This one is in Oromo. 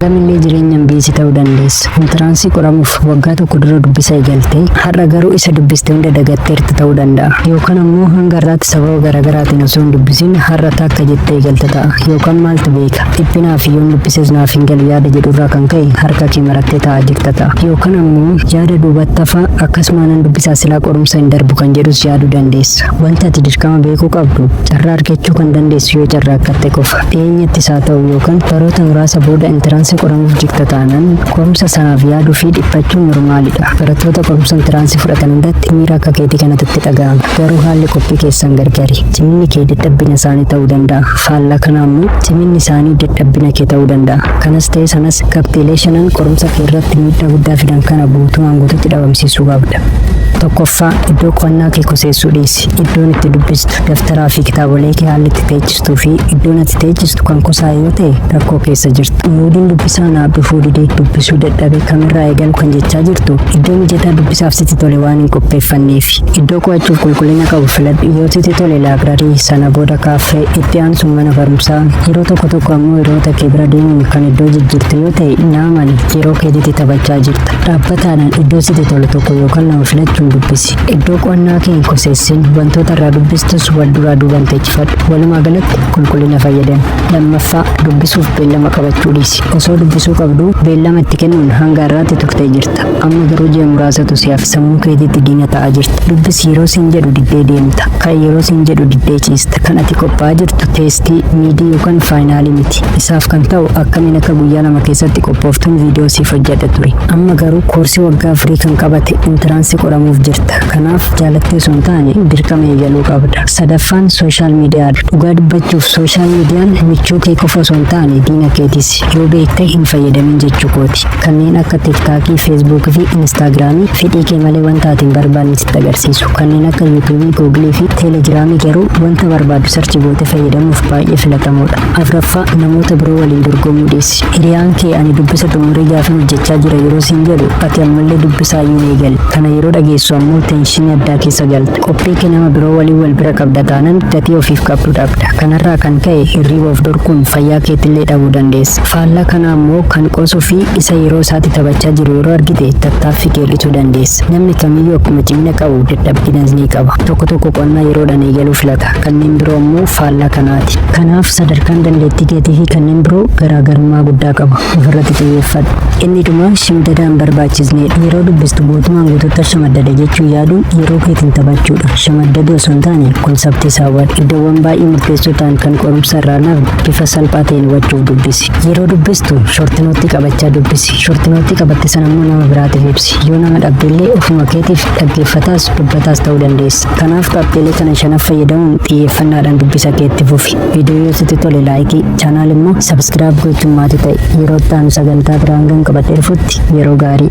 Kamillee jireenya MBS ta'uu dandeessa. Intiraansii qoramuuf waggaa tokko dura dubbisa eegalte. Har'a garuu isa dubbiste hunda dagatteerta ta'uu danda'a. Yookaan ammoo hanga har'aatti sababa garaagaraatiin osoo hin dubbisin har'a takka jettee eegalte ta'a. Yookaan maaltu beeka? Dhiphinaa fi yoon dubbises naaf hin galu yaada jedhurraa kan ka'e harka kee marattee taa'aa jirta ta'a. Yookaan ammoo yaada duubatti hafaa akkasuma nan dubbisaa silaa qorumsa hin darbu kan jedhus yaaduu dandeessa. Wanta ati dirqama beekuu qabdu carraa argachuu kan dandeessu yoo carraaqatte qofa. Dhiyeenyatti isaa ta'u yookan baroota muraasa booda intiraansii qoramuuf jigta taanan qorumsa sanaaf yaaduu fi dhiphachuun normaalidha. Barattoota qorumsa intiraansii fudhatan hundatti miira akka keetii kanatu itti dhaga'ama. Garuu haalli qophii keessan gargari. Ciminni kee dadhabbina isaanii ta'uu danda'a. Faallaa kanaa immoo ciminni isaanii dadhabbina kee ta'uu danda'a. Kanas ta'e sanas qabxiilee shanan qorumsa kee irratti miidhaa guddaa fidan kana guutumaan guututti dhabamsiisuu qabda. Tokkoffaa iddoo qo'annaa kee koseessuu dhiisi. Iddoon itti dubbistu, daftaraa fi kitaabolee kee haalli itti teechisu jirtuu fi iddoon ati teechistu kan kusaa yoo ta'e rakkoo keessa jirta. Muudiin dubbisaa naaf dhufuu didee dubbisuu dadhabe kamirraa eegalu kan jechaa jirtu iddoo mijataa dubbisaaf sitti tole waan hin qopheeffanneef. Iddoo qo'achuuf qulqullina qabu filadhu yoo sitti tole laabrarii sana booda kaaffee itti aansuun mana barumsaa yeroo tokko tokko ammoo hiriyoota kee bira deemuun kan iddoo jijjiirtu yoo ta'e naaman yeroo keetitti taphachaa jirta. Dhaabbataadhaan iddoo sitti tolu tokko yookaan lama filachuun dubbisi. galatti. Iddoo qo'annaa kee hin koseessin wantoota irraa dubbistus wal duraa duubaan teechifadhu. Walumaa galatti qulqullina fayyadami. Lammaffaa dubbisuuf beellama qabachuu dhiisi. Osoo dubbisuu qabduu beellama itti kennuun hanga har'aatti turtee jirta. Amma garuu ji'a muraasatu si hafe sammuu keetiitti diina ta'aa jirta. Dubbisi yeroo siin jedhu diddee deemta. Ka'i yeroo siin jedhu diddee ciista. Kan ati qophaa'aa jirtu teestii, miidii yookaan faayinaalii miti. Isaaf kan ta'u akkamiin akka guyyaa lama keessatti qophooftuun viidiyoo siif hojjedha. baratta ture. Amma garuu koorsii waggaa afurii kan qabate intiraansii qoramuuf jirta. Kanaaf jaalattee osoo hin taane dirqama eegaluu qabda. Sadaffaan sooshaal miidiyaadha. Dhugaa dubbachuuf sooshaal miidiyaan michuu kee qofa osoo hin taane diina keetis. Yoo beekte hin fayyadamin jechuu kooti. Kanneen akka tiktaakii, feesbuukii fi inistaagiraamii fedhii kee malee wanta ati hin barbaanne sitti agarsiisu. Kanneen akka yuutuubii, guugilii fi teelegiraamii garuu wanta barbaadu sarchi goote fayyadamuuf baay'ee filatamoodha. Afraffaa namoota biroo waliin dorgomuu dhiisi. Hiriyaan kee ani dubbisa xumuree gaafin hojjechaa jira yeroo siin jedhu ati ammallee dubbisaa iyyuu hin eegalle. Kana yeroo dhageessu ammoo teenshinii addaa keessa galta. Qophii kee nama biroo waliin wal bira qabda taanan gatii ofiif qabdu dhabda. Kanarraa kan ka'e hirriiba of dhorkuun fayyaa keetillee dhabuu dandeessa. Faallaa kanaa ammoo kan qoosuu fi isa yeroo isaatti taphachaa jiru yeroo argite tattaaffii kee hir'isuu dandeessa. Namni kamiyyuu akkuma cimina qabu dadhabbinas ni qaba. Tokko tokko qo'annaa yeroodhaan eegaluu filata. kanneen biroo immoo faallaa kanaati. Kanaaf sadarkaan dandeettii keetiifi kanneen biroo garaagarummaa guddaa qabu. Ofirratti xiyyeeffadhu. Inni dhumaa shimdada hin barbaachisneedha. Yeroo dubbistu guutumaan guutuutti shamaddada jechuun yaaduun yeroo keetiin taphachuudha. Shamaddaduu osoo hin taane konseptii isaa hubadhu. Iddoowwan baay'ee murteessoo ta'an kan qorumsa irraa hin hafne bifa salphaa ta'een hubachuuf dubbisi. Yeroo dubbistu shortinootti qabachaa dubbisi. Shortinootti qabatte sana immoo nama biraatiif ibsi. Yoo nama dhabdellee ofuma keetiif dhaggeeffataas dubbataas ta'uu dandeessa. Kanaaf qabxiilee kana shanaf fayyadamuun xiyyeeffannaadhaan dubbisa kee itti fufi. Viidiyoo yoo sitti tole laayikii, chaanaal immoo sabiskiraayib gochuun maatii ta'i. Yeroo itti aanu sagantaa biraa hangan qabadhee dhufutti yeroo gaarii.